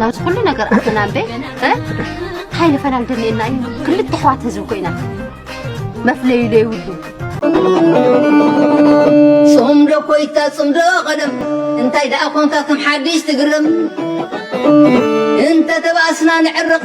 ናብዚ ኩሉ ነገር ኣተና እምበ እንታይ ንፈናን ደልየና እዩ ክልተ ኣሕዋት ህዝቢ ኮይና መፍለዩ ዘይብሉ ጽምዶ ኮይታ ጽምዶ ቀደም እንታይ ደኣ ኮንካ ከም ሓድሽ ትግርም እንተ ተባእስና ንዕርቕ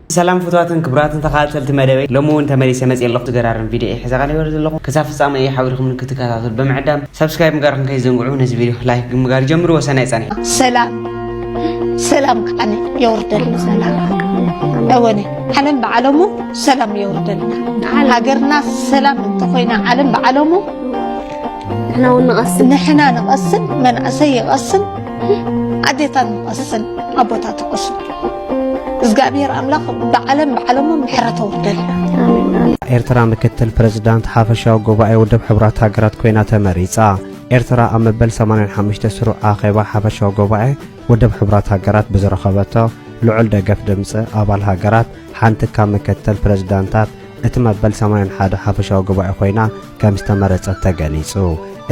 ሰላም ፍትዋትን ክብራትን ተኻታተልቲ መደበይ ሎሚ እውን ተመሊሰ መፅየ ኣለኹ ዝገራርም ቪድዮ እየ ሒዘ ቀሪበ ዘለኹ ክሳብ ፍፃመ እየ ሓቢርኩም ንክትከታተሉ ብምዕዳም ሰብስክራይብ ምግባርኩም ከይትዘንግዑ ነዚ ቪድዮ ላይክ ብምግባር ጀምርዎ ሰናይ ፃኒሕ ሰላም ሰላም ከዓኒ የውርደልና ሰላም እወነ ዓለም ብዓለሙ ሰላም የውርደልና ሃገርና ሰላም እንተኾይና ዓለም ብዓለሙ ንሕና እውን ንቐስን ንሕና ንቐስን መንእሰይ ይቐስን ኣዴታት ንቐስን ኣቦታት ይቐስን እዝጋኣብሄር ኣምላኽ ብዓለም ብዓለሙ ምሕረት ኣውርደልና። ኤርትራ ምክትል ፕረዚዳንት ሓፈሻዊ ጉባኤ ውድብ ሕቡራት ሃገራት ኮይና ተመሪጻ። ኤርትራ ኣብ መበል ሰማንያን ሓሙሽተ ስሩዕ ኣኼባ ሓፈሻዊ ጉባኤ ውድብ ሕቡራት ሃገራት ብዝረኸበቶ ልዑል ደገፍ ድምጺ ኣባል ሃገራት ሓንቲ ካብ ምክትል ፕረዚዳንታት እቲ መበል ሰማንያን ሓደ ሓፈሻዊ ጉባኤ ኮይና ከም ዝተመረጸት ተገሊጹ።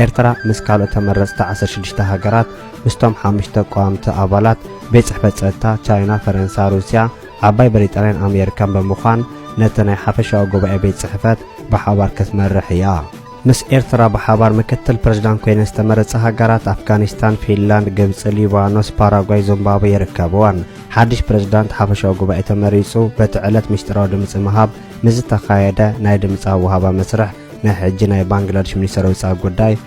ኤርትራ ምስ ካልኦት ተመረጽቲ ዓሰርተ ሽዱሽተ ሃገራት ምስቶም ሓሙሽተ ቀዋምቲ ኣባላት ቤት ጽሕፈት ጸጥታ ቻይና፣ ፈረንሳ፣ ሩስያ፣ ዓባይ ብሪጣንያን ኣሜሪካን ብምዃን ነቲ ናይ ሓፈሻዊ ጉባኤ ቤት ጽሕፈት ብሓባር ክትመርሕ እያ። ምስ ኤርትራ ብሓባር ምክትል ፕረዚዳንት ኮይነን ዝተመረጻ ሃገራት ኣፍጋኒስታን፣ ፊንላንድ፣ ግብጺ፣ ሊባኖስ፣ ፓራጓይ፣ ዙምባብወ ይርከብወን። ሓድሽ ፕረዚዳንት ሓፈሻዊ ጉባኤ ተመሪጹ በቲ ዕለት ምስጢራዊ ድምጺ ምሃብ ምስ ዝተኻየደ ናይ ድምጺ ኣወሃባ መስርሕ ናይ ሕጂ ናይ ባንግላድሽ ሚኒስተር ወጻኢ ጉዳይ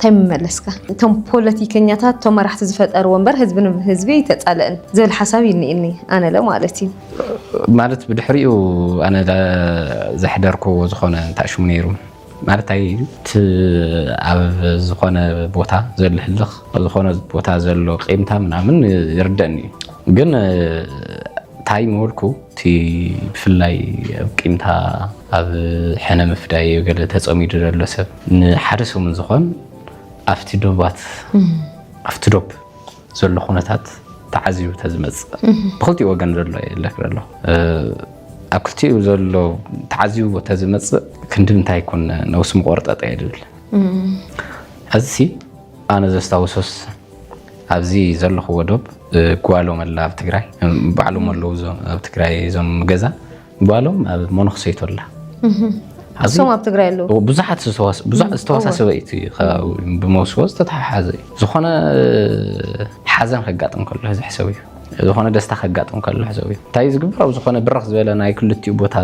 ታይ ምመለስካ? እቶም ፖለቲከኛታት እቶም መራሕቲ ዝፈጠርዎ እምበር ህዝቢ ንህዝቢ ኣይተፃለእን ዝብል ሓሳብ እዩ እኒኤኒ ኣነለ ማለት እዩ። ማለት ብድሕሪኡ ኣነ ዘሕደርክዎ ዝኾነ እንታይ ሽሙ ነይሩ ማለት ታይ እዩ እቲ ኣብ ዝኾነ ቦታ ዘሎ ህልኽ ኣብ ዝኾነ ቦታ ዘሎ ቂምታ ምናምን ይርደእኒ እዩ ግን ታይ ምበልኩ እቲ ብፍላይ ኣብ ቂምታ ኣብ ሕነ ምፍዳይ ገለ ተፀሚዱ ዘሎ ሰብ ንሓደ ሰሙን ዝኾን ኣብቲ ዶባት ኣብቲ ዶብ ዘሎ ኩነታት ተዓዚቡ ተዝመፅእ ብክልቲኡ ወገን ዘሎ የለክር ኣሎ ኣብ ክልቲኡ ዘሎ ተዓዚቡ ተዝመፅእ ክንዲ ምንታይ ይኮን ነውሲ ምቆርጠጠ እየ ዝብል ሕዚ ኣነ ዘስታውሶስ ኣብዚ ዘለኹዎ ዶብ ጓሎም ኣላ ኣብ ትግራይ ባዕሎም ኣለዉ ኣብ ትግራይ እዞም ገዛ ጓሎም ኣብ መነኽሰይቶ ኣላ እሶም ኣብ ትግራይ ኣለዉ ብዙሓት ዝተወሳሰበ እዩ ከባቢ ብመውስቦ ዝተተሓሓዘ እዩ ዝኾነ ሓዘን ከጋጥም ከሎ እዚ ሕሰብ እዩ ዝኾነ ደስታ ከጋጥም ከሎ ሕሰብ እዩ እንታይ ዝግብር ኣብ ዝኾነ ብረኽ ዝበለ ናይ ክልቲኡ ቦታ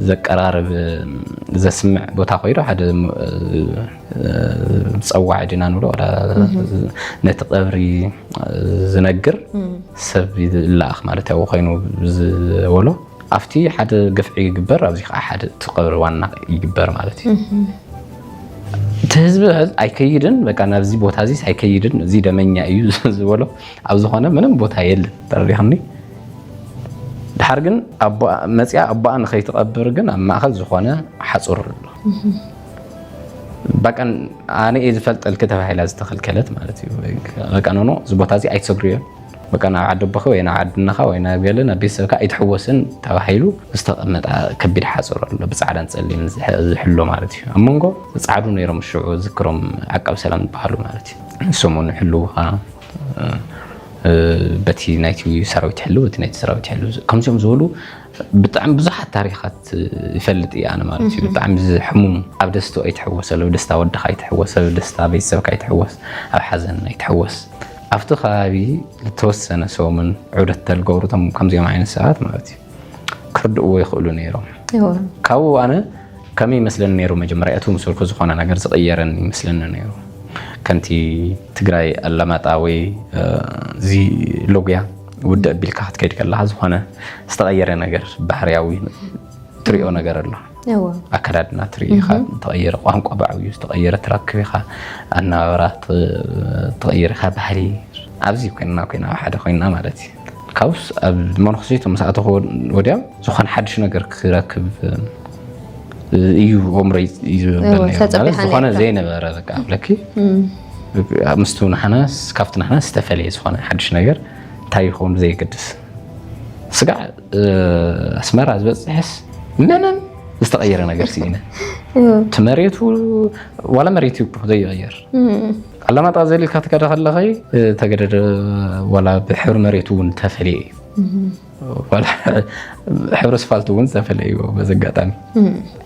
ዘቀራርብ ዘስምዕ ቦታ ኮይኑ ሓደ ፀዋዒ ዲና ንብሎ ነቲ ቀብሪ ዝነግር ሰብ ይለኣኽ ማለት ያው ኮይኑ ዝበሎ ኣብቲ ሓደ ግፍዒ ይግበር ኣብዚ ከዓ ሓደ እቲ ቀብሪ ዋና ይግበር ማለት እዩ እቲ ህዝቢ ኣይከይድን በቃ ናብዚ ቦታ እዚ ኣይከይድን እዚ ደመኛ እዩ ዝበሎ ኣብ ዝኾነ ምንም ቦታ የለን ተረዲኽኒ ድሓር ግን መፅያ ኣቦኣ ንኸይትቐብር ግን ኣብ ማእኸል ዝኾነ ሓፁር ኣሎ በቀን ኣነ እየ ዝፈልጠልኪ ተባሂላ ዝተኸልከለት ማለት እዩ ቀቀኖኖ እዚ ቦታ እዚ ኣይትሰግርዮ በቃ ናብ ዓዲ ኣቦኺ ወይ ናብ ዓዲ እነኻ ወይ ናብ ገለ ናብ ቤተሰብካ ኣይትሕወስን ተባሂሉ ዝተቐመጠ ከቢድ ሓፅር ኣሎ ብፃዕዳን ፀሊም ዝሕሎ ማለት እዩ ኣብ መንጎ ፃዕዱ ነይሮም ሽዑ ዝክሮም ዓቃብ ሰላም ዝበሃሉ ማለት እዩ ንሶም እውን ይሕልውኻ በቲ ናይቲ ሰራዊት ይሕልው እቲ ናይቲ ሰራዊት ይሕልው ከምዚኦም ዝበሉ ብጣዕሚ ብዙሓት ታሪኻት ይፈልጥ እየ ኣነ ማለት እዩ ብጣዕሚ ዝሕሙም ኣብ ደስቶ ኣይትሕወስ ኣለው ደስታ ወድኻ ኣይትሕወስ ኣብ ደስታ ቤተሰብካ ኣይትሕወስ ኣብ ሓዘን ኣይትሕወስ ኣብቲ ከባቢ ዝተወሰነ ሰሙን ዑደት ተልገብሩ ቶም ከምዚኦም ዓይነት ሰባት ማለት እዩ ክርድእዎ ይኽእሉ ነይሮም ካብኡ ኣነ ከመይ ይመስለኒ ነይሩ መጀመርያ እቲ ምስልኩ ዝኾነ ነገር ዝቕየረኒ ይመስለኒ ነይሩ ከምቲ ትግራይ ኣላማጣ ወይ እዚ ሎጉያ ውድእ ኣቢልካ ክትከይድ ከለካ ዝኮነ ዝተቀየረ ነገር ባህርያዊ ትሪኦ ነገር ኣሎ ኣከዳድና ትርኢ ኢኻ ተቀየረ ቋንቋ ብዓብዩ ዝተቀየረ ትረክብ ኢኻ ኣነባብራ ተቀየረ ኢኻ ባህሊ ኣብዚ ኮይንና ኮይና ኣብ ሓደ ኮይና ማለት እዩ ካብስ ኣብ መነኩሰይቶ ምስ ኣተኹ ወዲያ ዝኾነ ሓድሽ ነገር ክረክብ እዩ ሆምረይ እዩ ዝብለኒ ዝኾነ ዘይነበረ በቃ ብለኪ ምስቱ ንሓና ካብቲ ንሓና ዝተፈለየ ዝኾነ ሓድሽ ነገር እንታይ ይኸውን ብዘየገድስ ስጋዕ ኣስመራ ዝበፅሕስ ምንም ዝተቐየረ ነገር ስኢነ እቲ መሬቱ ዋላ መሬት እዩ ዘይቐየር ኣላማጣ ዘሊልካ ትከደ ከለኸይ ተገደደ ዋላ ብሕብሪ መሬቱ እውን ተፈልየ እዩ ሕብሪ ስፋልት እውን ዝተፈለዩ በዚ ኣጋጣሚ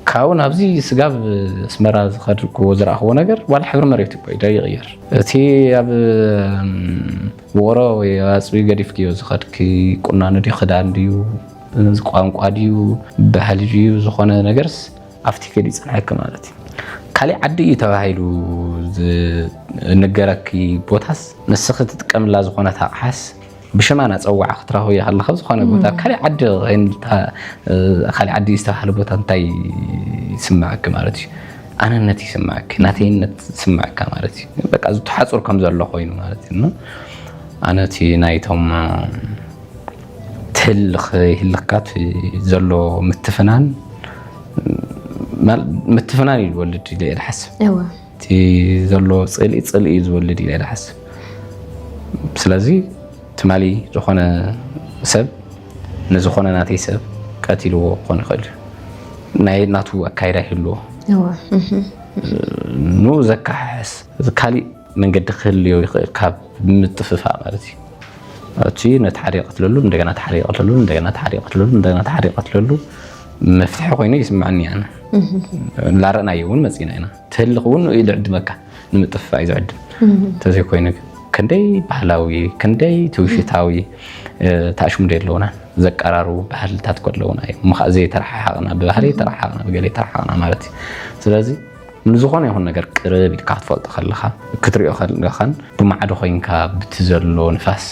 ካብኡ ናብዚ ስጋብ ኣስመራ ዝኸድኩዎ ዝረእኽዎ ነገር ዋላ ሕብሪ መሬት እኮ እዩ ይቕየር እቲ ኣብ ውቕሮ ወይ ኣፅቢ ገዲፍክዮ ዝኸድኪ ቁናኖ ድዩ ክዳን ድዩ ቋንቋ ድዩ ባህሊ ድዩ ዝኾነ ነገርስ ኣብቲ ከዲ ይፅንሐኪ ማለት እዩ ካሊእ ዓዲ እዩ ተባሂሉ ዝነገረኪ ቦታስ ንስኺ ትጥቀምላ ዝኾነት ኣቕሓስ ብሽማ ናፀዋዕ ክትረኽቦ ይኸል ካብ ዝኾነ ቦታ ኣብ ካሊእ ዓዲ ካሊእ ዓዲ ዝተባህለ ቦታ እንታይ ይስምዐኪ ማለት እዩ ኣነነት ይስምዐኪ ናተይነት ይስምዐካ ማለት እዩ በቃ ዝተሓፁር ከም ዘሎ ኮይኑ ማለት እዩ ኣነ እቲ ናይቶም ትህልኽ ይህልኽካት ዘሎ ምትፍናን ምትፍናን እዩ ዝወልድ ኢለ ይሓስብ እቲ ዘሎ ፅልኢ ፅልኢ እዩ ዝወልድ ኢለ ዝሓስብ ስለዚ ትማሊ ዝኾነ ሰብ ንዝኾነ ናተይ ሰብ ቀቲልዎ ክኾን ይኽእል እዩ ናይ ናቱ ኣካይዳ ይህልዎ ንኡ ዘካሕሕስ ካሊእ መንገዲ ክህልዮ ይኽእል ካብ ምጥፍፋእ ማለት እዩ እቲ ነቲ ሓደ ይቐትለሉ እንደገና እቲ ሓደ ይቐትለሉ እንደገና እቲ ሓደ ይቐትለሉ እንደገና እቲ ሓደ ይቐትለሉ መፍትሒ ኮይኑ ይስምዐኒ ኣነ ላረእናዮ እውን መፂና ኢና ትህልኽ እውን እዩ ዝዕድመካ ንምጥፍፋእ እዩ ዝዕድም እንተዘይኮይኑ ግን ክንደይ ባህላዊ ክንደይ ትውሽታዊ ተኣሽሙደ ኣለውና ዘቀራርቡ ባህልታት እኮ ኣለውና እዮም እሞ ከዓ ዘይተረሓሓቕና ብባህሊ ተረሓቕና ብገለ ተረሓቕና ማለት እዩ ስለዚ ንዝኾነ ይኹን ነገር ቅርብ ኢልካ ክትፈልጦ ከለኻ ክትሪኦ ከለኻን ብማዕዶ ኮይንካ ብቲ ዘሎ ንፋስ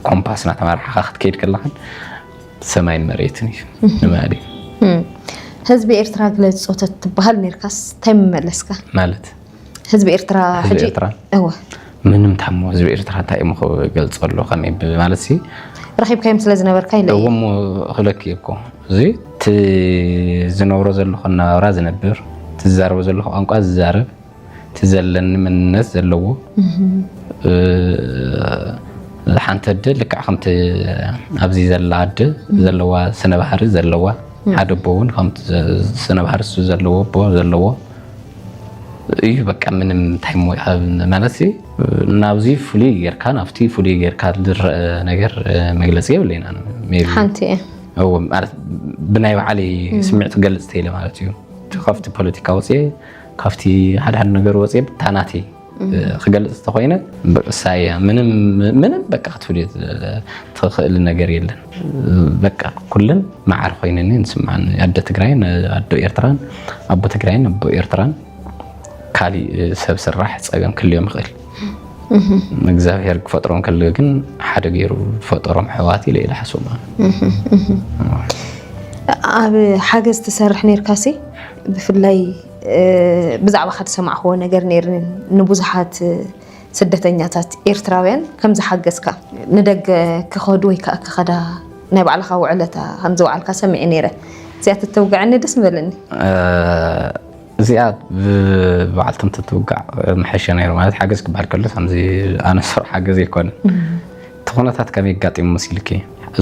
ኮምፓስ እናተመራሕኻ ክትከይድ ከለኻን ሰማይን መሬትን እዩ ንባህሊ ህዝቢ ኤርትራ ግለጾ ተትበሃል ነርካስ እንታይ ምመለስካ ማለት ህዝቢ ኤርትራ ህዝቢ ሕጂ ኤርትራ እወ ምንም ታሞ ህዝቢ ኤርትራ እንታይ እሞ ክገልጾ ኣሎ ከመይ ብ- ማለት ሲ ረኺብካዮም ስለ ዝነበርካ ኢለ እየ እሞ ክብለኪ እኮ እዚ እቲ ዝነብሮ ዘለኹ ናብራ ዝነብር እቲ ዝዛረቦ ዘለኹ ቋንቋ ዝዛረብ እቲ ዘለኒ መንነት ዘለዎ ሓንቲ ኣደ ልክዕ ከምቲ ኣብዚ ዘላ ኣደ ዘለዋ ስነ ባህሪ ዘለዋ ሓደ ኣቦ እውን ከምቲ ስነ ባህሪ እሱ ዘለዎ ኣቦ ዘለዎ እዩ በቃ ምንም እንታይ እሞ ካብ ማለት ናብዚ ፍሉይ ጌርካ ናብቲ ፍሉይ ጌርካ ዝረአ ነገር መግለፂ የብለይና ሓንቲ እየ ማለት ብናይ ባዕለይ ስምዒት ገልፅ ተይለ ማለት እዩ ካብቲ ፖለቲካ ወፅየ ካብቲ ሓድሓድ ነገር ወፅየ ብታ ናተይ ክገልፅ ተኮይነ እሳየ ምንም ምንም በቃ ክትብል ትኽእል ነገር የለን በቃ ኩለን መዓር ኮይነኒ ንስምዓን ኣደ ትግራይን ኣዶ ኤርትራን ኣቦ ትግራይን ኣቦ ኤርትራን ካሊእ ሰብ ስራሕ ፀገም ክልዮም ይኽእል እግዚኣብሔር ክፈጥሮም ከለ ግን ሓደ ገይሩ ፈጠሮም ሕዋት ኢለ ኢለ ሓስቦም ኣብ ሓገዝ ትሰርሕ ነርካሲ ብፍላይ ብዛዕባኻ ዝሰማዕኽዎ ነገር ነይርኒ ንብዙሓት ስደተኛታት ኤርትራውያን ከም ዝሓገዝካ ንደገ ክኸዱ ወይ ከዓ ክኸዳ ናይ ባዕልኻ ውዕለታ ከም ዝወዓልካ ሰሚዐ ነይረ እዚኣ ተተውግዐኒ ደስ ምበለኒ እዚኣ ብበዓልቶም ተትውጋዕ መሐሸ ነይሩ ማለት ሓገዝ ክበሃል ከሎ ከምዚ ኣነ ስር ሓገዝ ኣይኮነ እቲ ኩነታት ከመይ ኣጋጢሙ መሲልኪ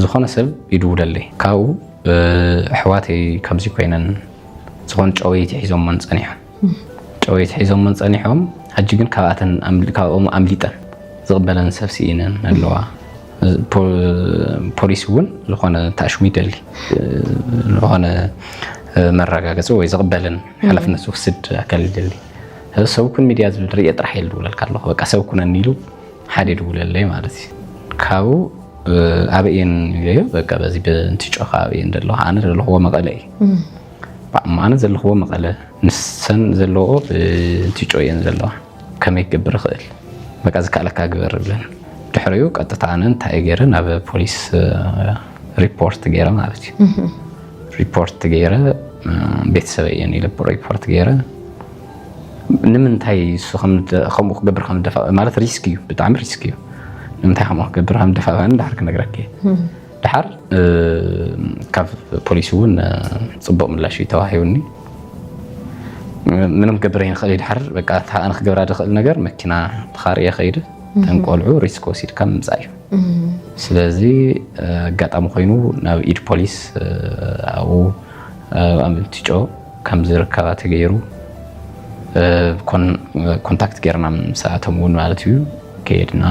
ዝኾነ ሰብ ይድውለለይ ካብኡ ኣሕዋተይ ከምዚ ኮይነን ዝኾነ ጨወይቲ ሒዞመን ፀኒሖም ጨወይቲ ሒዞመን ፀኒሖም ሕጂ ግን ካብኣተን ካብኦም ኣምሊጠን ዝቕበለን ሰብ ስኢነን ኣለዋ ፖሊስ እውን ዝኾነ ተኣሽሙ ይደሊ ዝኾነ መረጋገፂ ወይ ዝቕበልን ሓላፍነት ዝወስድ ኣካል ይደሊ ሰብ ኩን ሚድያ ዝብል ርእየ ጥራሕ እየ ዝብለልካ ኣለኹ በቃ ሰብ ኩነኒ ኢሉ ሓደ ይድውለለይ ማለት እዩ ካብኡ ኣበየን ይብለዮ በቃ በዚ ብንቲ ጮኻ ኣበየን ደለኹ ኣነ ዘለኹዎ መቐለ እዩ ኣነ ዘለኹዎ መቐለ ንሰን ዘለዎ ብንቲ ጮ እየን ዘለዋ ከመይ ክገብር ይኽእል በቃ ዝከኣለካ ግበር ብለን ድሕሪኡ ቀጥታ ኣነ እንታይ ገይረ ናብ ፖሊስ ሪፖርት ገይረ ማለት እዩ ሪፖርት ገይረ ቤተሰበ እየን ኢለ ሪፖርት ገይረ ንምንታይ እሱ ከምኡ ክገብር ከም ዝደፋ ማለት ሪስክ እዩ ብጣዕሚ ሪስክ እዩ ንምንታይ ከምኡ ክገብር ከም ዝደፋ ድሓር ክነግረኪ ድሓር ካብ ፖሊስ እውን ፅቡቅ ምላሽ እዩ ተዋሂቡኒ ምንም ክገብር ይንክእል እዩ ድሓር በቃ እታ ኣነ ክገብራ ዝኽእል ነገር መኪና ተኻርየ ከይደ እተን ቆልዑ ሪስክ ወሲድካ ምምፃእ እዩ ስለዚ ኣጋጣሚ ኮይኑ ናብ ኢድ ፖሊስ ኣብኡ ኣምልቲጮ ከምዝርከባ ተገይሩ ኮንታክት ገይርና ምስኣቶም እውን ማለት እዩ ከየድና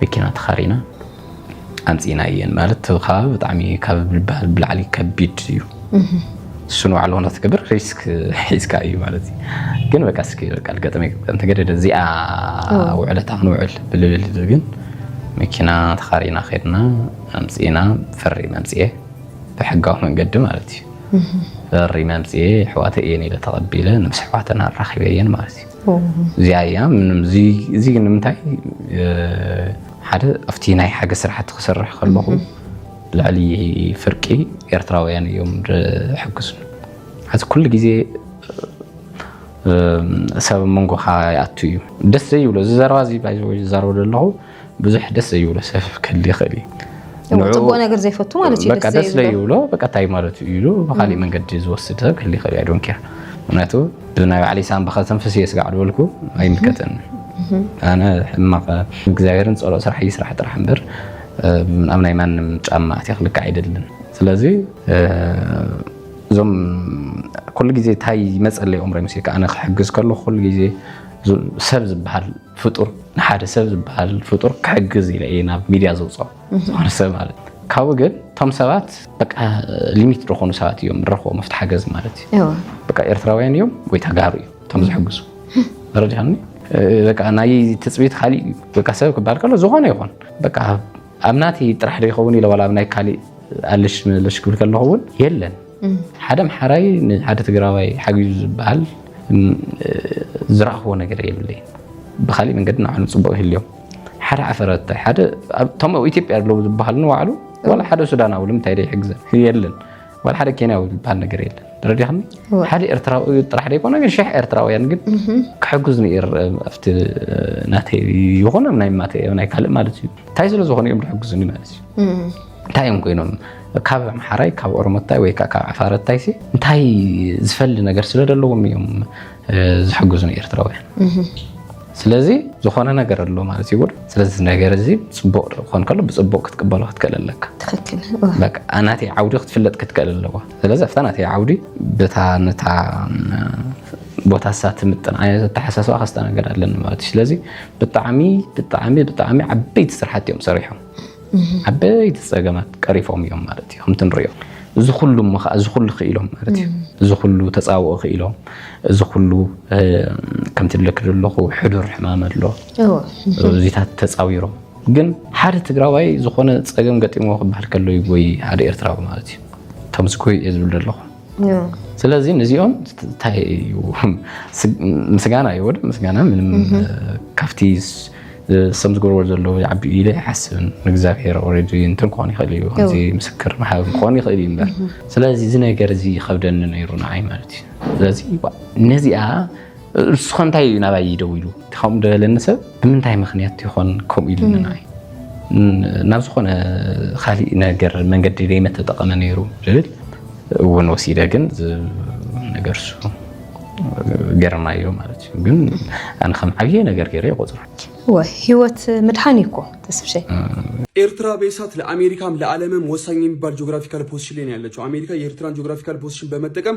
መኪና ተኻሪና ኣምፅእና እየን ማለት እቲ ከባቢ ብጣዕሚ ካብ ዝበሃል ብላዕሊ ከቢድ እዩ እሱ ንባዕሉ ሆነ ትገብር ሪስክ ሒዝካ እዩ ማለት እዩ ግን በቃ እስኪ በቃ ልገጠመ እንተገደደ እዚኣ ውዕለታ ክንውዕል ብልብል ግን መኪና ተኻሪና ከድና ኣምፅእና ፈሪም ኣምፅኤ ብሕጋዊ መንገዲ ማለት እዩ ፈሪመ ኣምፅኤ ኣሕዋተይ እየን ኢለ ተቐቢለ ምስ ኣሕዋተን ኣራኺበየን ማለት እዩ እዚኣ እያ እዚ ንምንታይ ሓደ ኣብቲ ናይ ሓገዝ ስራሕቲ ክሰርሕ ከለኹ ልዕሊ ፍርቂ ኤርትራውያን እዮም ዝሕግዙ ሓዚ ኩሉ ግዜ ሰብ መንጎኻ ይኣቱ እዩ ደስ ዘይብሎ እዚ ዘረባ እዚ ዝዛረበ ዘለኹ ብዙሕ ደስ ዘይብሎ ሰብ ክህሊ ይኽእል እዩ ፅቡቅ ነገር ዘይፈቱ ማለት እዩ በቃ ደስ ዘይብሎ በቃ እንታይ ማለት እዩ ኢሉ ብካሊእ መንገዲ ዝወስድ ሰብ ክህሊ ይኽእል እዩ ዶንኬር ምክንያቱ ብናይ ባዕለይ ሳንባ ከተንፍስ እየ ስጋዕ ዝበልኩ ኣይምልከተኒ ኣነ ሕማቅ እግዚኣብሔርን ፀሎት ስራሕ ይስራሕ ጥራሕ እምበር ኣብ ናይ ማንም ጫማ ኣትየ ክልክዕ ኣይደልን ስለዚ እዞም ኩሉ ግዜ እንታይ ይመፀለይ ኦም ሬምሲ ከዓነ ክሕግዝ ከለኩ ኩሉ ግዜ ሰብ ዝበሃል ፍጡር ንሓደ ሰብ ዝበሃል ፍጡር ክሕግዝ ኢለ እየ ናብ ሚድያ ዘውፅኦ ዝኾነ ሰብ ማለት እዩ። ካብኡ ግን እቶም ሰባት በቃ ሊሚት ዝኾኑ ሰባት እዮም ንረኽቦ መፍት ሓገዝ ማለት እዩ። እወ በቃ ኤርትራውያን እዮም ወይ ተጋሩ እዮም እቶም ዝሕግዙ ረዲኻኒ በቃ ናይ ትፅቢት ካሊእ እዩ። በቃ ሰብ ክበሃል ከሎ ዝኾነ ይኹን በቃ ኣብ ናተይ ጥራሕ ዶ ይኸውን ኢለ ዋላ ኣብ ናይ ካሊእ ኣለሽ መለሽ ክብል ከለኹ እውን የለን ሓደ ኣምሓራይ ንሓደ ትግራዋይ ሓጊዙ ዝበሃል ዝረኣኽዎ ነገር የብለይ ብካሊእ መንገዲ ንዓኑ ፅቡቅ ይህልዮም ሓደ ዓፈረተ ሓደ እቶም ኣብ ኢትዮጵያ ኣለዉ ዝበሃሉ ንባዕሉ ዋላ ሓደ ሱዳናዊ ንምንታይ ዘይሕግዘን የለን ዋላ ሓደ ኬንያዊ ዝበሃል ነገር የለን ተረዲኻኒ ሓደ ኤርትራዊ ጥራሕ ዘይኮነ ግን ሽሕ ኤርትራውያን ግን ክሕግዝ ንር ኣብቲ ናተይ ይኹን ኣብ ናይ ማተ ናይ ካልእ ማለት እዩ እንታይ ስለ ዝኾነ እዮም ዝሕግዙኒ ማለት እዩ እንታይ እዮም ኮይኖም ካብ ኣምሓራይ ካብ ኦሮሞታይ ወይ ከዓ ካብ ዓፋረታይሲ እንታይ ዝፈሊ ነገር ስለ ዘለዎም እዮም ዝሕግዙ ንኤርትራውያን ስለዚ ዝኾነ ነገር ኣሎ ማለት እዩ ውር ስለዚ ነገር እዚ ፅቡቅ ክኾን ከሎ ብፅቡቅ ክትቅበሎ ክትክእል ኣለካ ናተይ ዓውዲ ክትፍለጥ ክትክእል ኣለዋ ስለዚ ኣብታ ናተይ ዓውዲ በታ ነታ ቦታ ሳ ትምጥን ዓይነት ኣተሓሳስባ ከስተናገድ ኣለኒ ማለት እዩ ስለዚ ብጣዕሚ ብጣዕሚ ብጣዕሚ ዓበይቲ ስራሕቲ እዮም ሰሪሖም ዓበይቲ ፀገማት ቀሪፎም እዮም ማለት እዩ ከምቲ ንሪኦ እዚ ኩሉ እሞ ከዓ እዚ ኩሉ ክኢሎም ማለት እዩ እዚ ኩሉ ተፃብኦ ክኢሎም እዚ ኩሉ ከምቲ ብለክ ዘለኹ ሕዱር ሕማም ኣሎ እዚታት ተፃዊሮም ግን ሓደ ትግራዋይ ዝኾነ ፀገም ገጢሞ ክበሃል ከሎ ይጎይ ሓደ ኤርትራዊ ማለት እዩ ከምዚ ጎይ እየ ዝብል ዘለኹ ስለዚ ንዚኦም እንታይ እዩ ምስጋና እዩ ወደ ምስጋና ምንም ካብቲ ሰም ዝገብርዎ ዘለዉ ይዓቢ ኢለ ይሓስብን ንእግዚኣብሔር ኦልሬዲ እንትን ክኾን ይኽእል እዩ ከምዚ ምስክር ምሃብ ክኾን ይኽእል እዩ እምበር ስለዚ እዚ ነገር እዚ ይኸብደኒ ነይሩ ንዓይ ማለት እዩ ስለዚ ነዚኣ ንሱኸ እንታይ እዩ ናባይ ይደው ኢሉ ከምኡ ደበለኒ ሰብ ብምንታይ ምክንያት ይኾን ከምኡ ኢሉ ንናይ ናብ ዝኾነ ካሊእ ነገር መንገዲ ደይመት ተጠቐመ ነይሩ ዝብል እውን ወሲደ ግን ነገር እሱ ገርናዮ ማለት እዩ ግን ኣነ ከም ዓብየ ነገር ገይረ ይቆፅሮ ህይወት ምድሓን እኮ ተስፍሸ ኤርትራ በሳት ለአሜሪካም ለዓለምም ወሳኝ የሚባል ጂኦግራፊካል ፖዚሽን ላይ ነው ያለችው። አሜሪካ የኤርትራን ጂኦግራፊካል ፖዚሽን በመጠቀም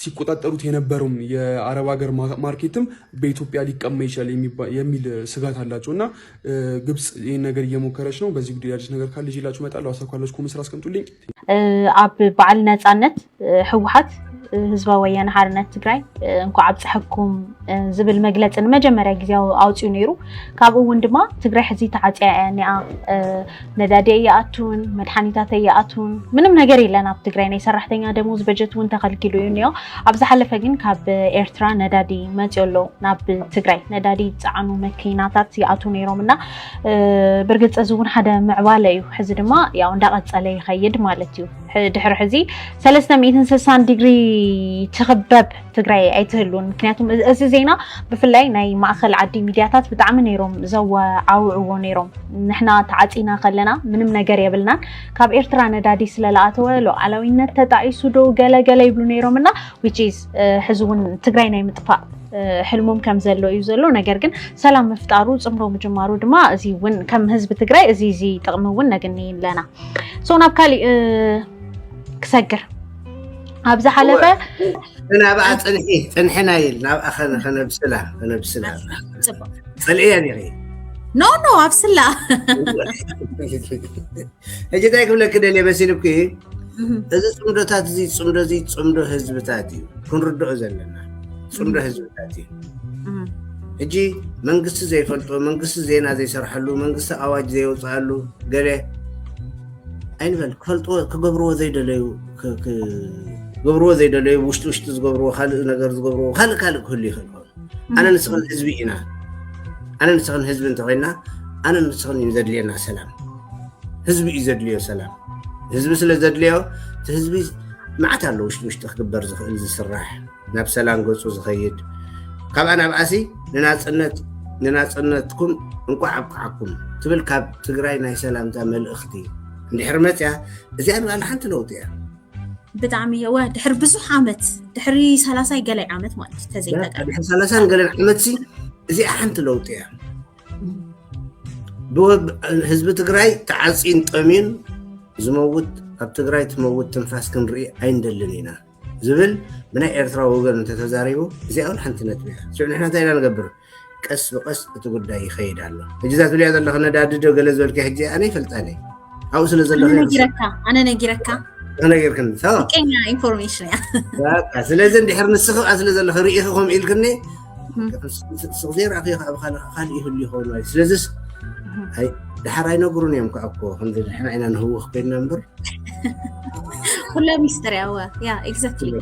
ሲቆጣጠሩት የነበረውም የአረብ ሀገር ማርኬትም በኢትዮጵያ ሊቀማ ይችላል የሚል ስጋት አላቸው እና ግብፅ ይህን ነገር እየሞከረች ነው። በዚህ ጉዳይ አዲስ ነገር ካለ ይዤላችሁ እመጣለሁ። ሀሳብ ካላችሁ ኮሜንት ስራ አስቀምጡልኝ። ኣብ በዓል ነፃነት ህወሓት ህዝባዊ ወያነ ሓርነት ትግራይ እንኳዕ ኣብፀሐኩም ዝብል መግለፂ ንመጀመርያ ግዜ ኣውፅኡ ነይሩ ካብኡ እውን ድማ ትግራይ ሕዚ ተዓፅያ እያ እኒኣ ነዳዲ ኣይኣቱን መድሓኒታት ኣይኣቱን ምንም ነገር የለን ኣብ ትግራይ ናይ ሰራሕተኛ ደሞዝ በጀት እውን ተኸልኪሉ እዩ እኒኦ ኣብ ዝሓለፈ ግን ካብ ኤርትራ ነዳዲ መፅዮ ኣሎ ናብ ትግራይ ነዳዲ ዝፀዓኑ መኪናታት ይኣቱ ነይሮም እና ብርግፅ እዚ እውን ሓደ ምዕባለ እዩ ሕዚ ድማ ያው እንዳቐፀለ ይኸይድ ማለት እዩ ድሕሪ ሕዚ 360 ዲግሪ ትኽበብ ትግራይ ኣይትህሉን ምክንያቱም እዚ ዜና ብፍላይ ናይ ማእኸል ዓዲ ሚድያታት ብጣዕሚ ነይሮም ዘወዓውዕዎ ነይሮም ንሕና ተዓፂና ከለና ምንም ነገር የብልናን ካብ ኤርትራ ነዳዲ ስለለኣተወ ሉዓላዊነት ተጣኢሱ ዶ ገለገለ ይብሉ ነይሮም እና ዊችዝ ሕዚ እውን ትግራይ ናይ ምጥፋእ ሕልሞም ከም ዘሎ እዩ ዘሎ ነገር ግን ሰላም ምፍጣሩ ፅምሮ ምጅማሩ ድማ እዚ እውን ከም ህዝቢ ትግራይ እዚ እዚ ጥቕሚ እውን ነግኒ ኣለና ሶ ናብ ካሊእ ክሰግር ኣብ ዝሓለፈ ናብኣ ፅንሒ ፅንሕና ይል ናብኣ ከነብስላ ከነብስላ ፅልእየ ኒኺ ኖ ኖ ኣብስላ ሕጂ እንታይ ክብለኪ ደልየ መሲልኩ እዚ ፅምዶታት እዚ ፅምዶ እዚ ፅምዶ ህዝብታት እዩ ክንርድኦ ዘለና ፅምዶ ህዝብታት እዩ ሕጂ መንግስቲ ዘይፈልጦ መንግስቲ ዜና ዘይሰርሐሉ መንግስቲ ኣዋጅ ዘየውፅኣሉ ገለ ኣይንበል ክፈልጥዎ ክገብርዎ ዘይደለዩ ክገብርዎ ዘይደለዩ ውሽጢ ውሽጢ ዝገብርዎ ካልእ ነገር ዝገብርዎ ካልእ ካልእ ክህሉ ይኽእል ኮይኑ ኣነ ንስኽን ህዝቢ ኢና ኣነ ንስኽን ህዝቢ እንተኮይና ኣነ ንስኽን እዩ ዘድልየና ሰላም ህዝቢ እዩ ዘድልዮ ሰላም ህዝቢ ስለ ዘድልዮ እቲ ህዝቢ መዓት ኣሎ ውሽጢ ውሽጢ ክግበር ዝኽእል ዝስራሕ ናብ ሰላም ገፁ ዝኸይድ ካብኣ ናብኣሲ ንናፅነት ንናፅነትኩም እንቋዕ ኣብቅዓኩም ትብል ካብ ትግራይ ናይ ሰላምታ መልእኽቲ እንድሕር መፅያ እዚኣ ንባዕላ ሓንቲ ለውጢ እያ ብጣዕሚ እየወ ድሕሪ ብዙሕ ዓመት ድሕሪ ሰላሳይ ገላይ ዓመት ማለት እዩ ተዘይተቀድሕሪ ሰላሳን ገለን ዓመት ሲ እዚኣ ሓንቲ ለውጢ እያ ህዝቢ ትግራይ ተዓፂን ጠሚን ዝመውት ኣብ ትግራይ ትመውት ትንፋስ ክንርኢ ኣይንደልን ኢና ዝብል ብናይ ኤርትራ ወገን እንተተዛሪቡ እዚኣ እውን ሓንቲ ነጥቢ እያ ሽዑ ንሕና እንታይ ኢና ንገብር ቀስ ብቀስ እቲ ጉዳይ ይኸይድ ኣሎ ሕጂ እዛ ትብልያ ዘለኺ ነዳድዶ ገለ ዝበልኪ ሕጂ ኣነ ይፈልጣኒ ኣብኡ ስለ ዘለኺ ነጊረካ ኣነ ነጊረካ ተነጊርክኒ ቀኛ ኢንፎርሜሽን እያ ስለዚ እንድሕር ንስኺ ስለ ዘለኺ ርኢኺ ከምኡ ኢልክኒ ስቕ ዘይረኣኽ እዮ ኣብ ካልእ ይህሉ ይኸውን ማለት ስለዚስ ድሓር ኣይነግሩን እዮም ከዓ እኮ ከምዚ ንሕና ኢና ንህውኽ ኮይንና እምበር ኩላ ሚስተር ያወ ያ ኤግዛክትሊ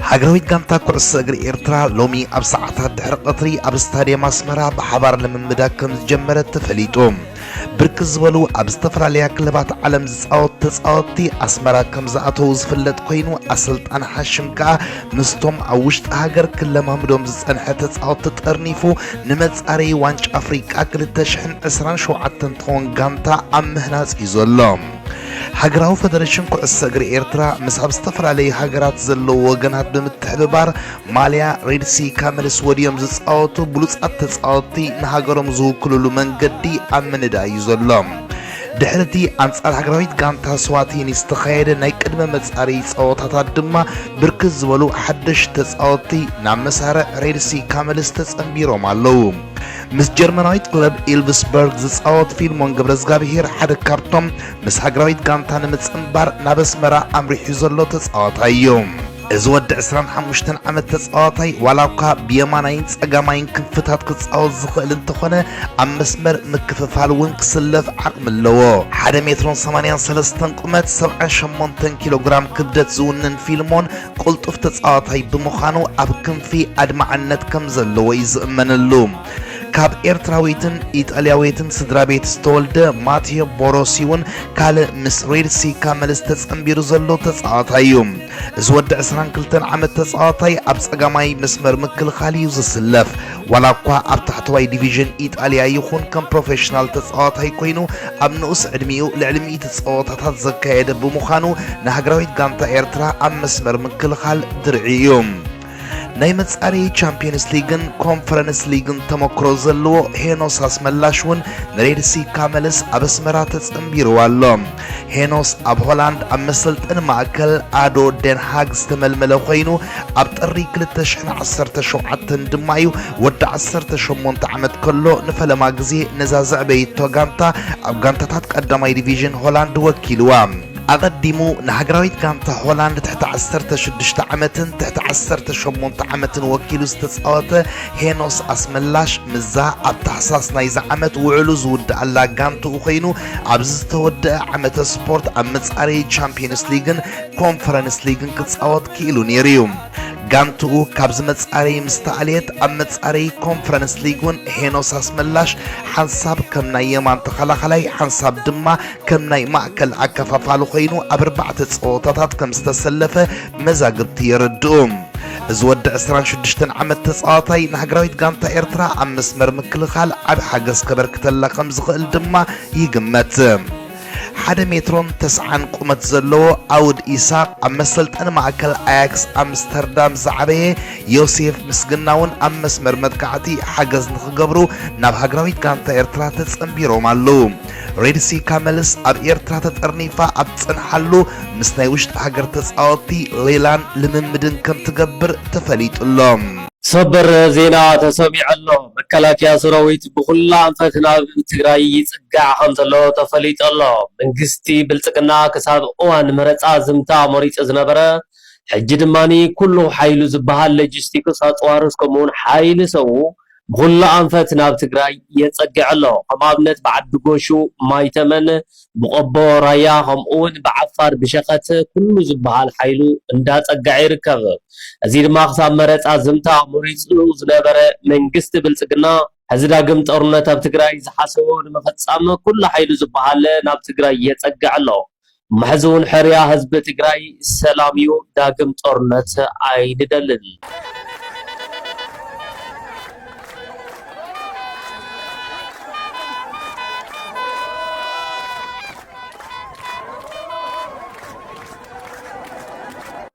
ሃገራዊት ጋንታ ኩዕሶ እግሪ ኤርትራ ሎሚ ኣብ ሰዓታት ድሕሪ ቀትሪ ኣብ ስታድየም ኣስመራ ብሓባር ልምምዳ ከም ዝጀመረት ተፈሊጡ ብርክት ዝበሉ ኣብ ዝተፈላለያ ክለባት ዓለም ዝፃወቱ ተፃወትቲ ኣስመራ ከም ዝኣተዉ ዝፍለጥ ኮይኑ ኣሰልጣኒ ሓሽም ከዓ ምስቶም ኣብ ውሽጢ ሃገር ክለማምዶም ዝፀንሐ ተፃወትቲ ጠርኒፉ ንመፃረዪ ዋንጫ ኣፍሪቃ 2027 እንትኸውን ጋንታ ኣብ ምህናፅ እዩ ዘሎ። ሃገራዊ ፈደሬሽን ኩዕሶ እግሪ ኤርትራ ምስ ኣብ ዝተፈላለዩ ሃገራት ዘለዉ ወገናት ብምትሕብባር ማልያ ሬድሲ ካመልስ ወድዮም ዝጻወቱ ብሉጻት ተጻወትቲ ንሃገሮም ዝውክልሉ መንገዲ ኣብ ምንዳይ እዩ ዘሎ። ድሕሪ እቲ ኣንጻር ሃገራዊት ጋንታ ስዋቲኒ ዝተኻየደ ናይ ቅድመ መጻረዪ ጸወታታት ድማ ብርክት ዝበሉ ሓደሽቲ ተጻወትቲ ናብ መሳርዕ ሬድሲ ካመልስ ተጸንቢሮም ኣለዉ። ምስ ጀርመናዊት ክለብ ኢልቭስበርግ ዝጻወት ፊልሞን ገብረዝጋብሄር ሓደ ካብቶም ምስ ሃገራዊት ጋንታ ንምጽንባር ናብ ኣስመራ ኣምሪሑ ዘሎ ተጻዋታይ እዩ። እዚ ወዲ ዕስራን ሓሙሽተን ዓመት ተጻዋታይ ዋላ እኳ ብየማናይን ጸጋማይን ክንፍታት ክጻወት ዝኽእል እንተኾነ ኣብ መስመር ምክፍፋል እውን ክስለፍ ዓቕሚ ኣለዎ። ሓደ ሜትሮን ሰማንያን ሰለስተን ቁመት ሰብዓን ሸሞንተን ኪሎ ግራም ክብደት ዝውንን ፊልሞን ቅልጡፍ ተጻዋታይ ብምዃኑ ኣብ ክንፊ ኣድማዕነት ከም ዘለዎ እዩ ዝእመነሉ። ካብ ኤርትራዊትን ኢጣልያዊትን ስድራቤት ዝተወልደ ማቴዮ ቦሮሲ እውን ካልእ ምስ ሬድ ሲ ካመልስ ተጸንቢሩ ዘሎ ተጻዋታይ እዩ። እዚ ወዲ 22 ዓመት ተጻዋታይ ኣብ ጸጋማይ መስመር ምክልኻል እዩ ዝስለፍ። ዋላ እኳ ኣብ ታሕተዋይ ዲቪዥን ኢጣልያ ይኹን ከም ፕሮፌሽናል ተጻዋታይ ኮይኑ ኣብ ንኡስ ዕድሚኡ ልዕሊ ሚእቲ ጸወታታት ዘካየደ ብምዃኑ ንሃገራዊት ጋንታ ኤርትራ ኣብ መስመር ምክልኻል ድርዒ እዩ። ናይ መጻረዪ ቻምፒየንስ ሊግን ኮንፈረንስ ሊግን ተመክሮ ዘለዎ ሄኖስ ኣስመላሽ እውን ንሬድሲ ካመልስ ኣብ ኣስመራ ተጸንቢርዎ ኣሎ። ሄኖስ ኣብ ሆላንድ ኣብ መሰልጠኒ ማእከል ኣዶ ደንሃግ ዝተመልመለ ኮይኑ ኣብ ጥሪ 2017 ድማ እዩ ወዲ 18 ዓመት ከሎ ንፈለማ ግዜ ነዛ ዘዕበይቶ ጋንታ ኣብ ጋንታታት ቀዳማይ ዲቪዥን ሆላንድ ወኪልዋ። ኣቐዲሙ ንሃገራዊት ጋንታ ሆላንድ ትሕቲ ዓሰርተ ሽዱሽተ ዓመትን ትሕቲ ዓሰርተ ሸሞንተ ዓመትን ወኪሉ ዝተጻወተ ሄኖስ ኣስመላሽ ምዛ ኣብ ታሕሳስ ናይዚ ዓመት ውዕሉ ዝውድኣላ ጋንትኡ ኮይኑ ኣብዚ ዝተወድአ ዓመተ ስፖርት ኣብ መጻረዪ ቻምፕዮንስ ሊግን ኮንፈረንስ ሊግን ክጻወት ክኢሉ ነይሩ እዩ። ጋንትኡ ካብዚ መጻረዪ ምስ ተኣልየት ኣብ መጻረዪ ኮንፈረንስ ሊግ እውን ሄኖስ ኣስመላሽ ሓንሳብ ከም ናይ የማን ተኸላኻላይ ሓንሳብ ድማ ከም ናይ ማእከል ኣከፋፋሊ ኮይኑ ኣብ ኣርባዕተ ጸወታታት ከም ዝተሰለፈ መዛግብቲ የረድኡ። እዚ ወዲ ዕስራን ሽዱሽተን ዓመት ተጻዋታይ ንሃገራዊት ጋንታ ኤርትራ ኣብ መስመር ምክልኻል ዓቢ ሓገዝ ከበርክተላ ከም ዝኽእል ድማ ይግመት። ሓደ ሜትሮን ተስዓን ቁመት ዘለዎ ኣውድ ኢሳቕ ኣብ መሰልጠኒ ማእከል ኣያክስ ኣምስተርዳም ዝዓበየ ዮሴፍ ምስግና'ውን ኣብ መስመር መጥቃዕቲ ሓገዝ ንኽገብሩ ናብ ሃገራዊት ጋንታ ኤርትራ ተጸንቢሮም ኣለዉ። ሬድሲ ካመልስ ኣብ ኤርትራ ተጠርኒፋ ኣብ ትጸንሓሉ ምስ ናይ ውሽጢ ሃገር ተጻወቲ ሌላን ልምምድን ከም ትገብር ተፈሊጡ ኣሎ። ሰበር ዜና ተሰሚዑ ኣሎ። መከላከያ ሰራዊት ብኹላ ኣንፈት ናብ ትግራይ ይፅጋዕ ከምዘሎ ተፈሊጡ ኣሎ። መንግስቲ ብልፅግና ክሳብ እዋን መረፃ ዝምታ ኣሞሪፁ ዝነበረ ሕጂ ድማ ኩሉ ሓይሉ ዝብሃል ለጂስቲክስ ኣፅዋር እስከምኡውን ሓይሊ ሰቡ ብኹሉ ኣንፈት ናብ ትግራይ የፀግዕ ኣሎ። ከም ኣብነት ብዓዲ ጎሹ፣ ማይ ተመን፣ ብቆቦ ራያ ከምኡ እውን ብዓፋር ብሸኸት ኩሉ ዝበሃል ሓይሉ እንዳፀገዐ ይርከብ። እዚ ድማ ክሳብ መረፃ ዝምታ መሪፁ ዝነበረ መንግስቲ ብልፅግና፣ ሕዚ ዳግም ጦርነት ኣብ ትግራይ ዝሓሰቦ ንምፍፃም ኩሉ ሓይሉ ዝበሃል ናብ ትግራይ የፀግዕ ኣሎ። መሕዝውን ሕርያ ህዝቢ ትግራይ ሰላም እዩ ዳግም ጦርነት ኣይንደልን።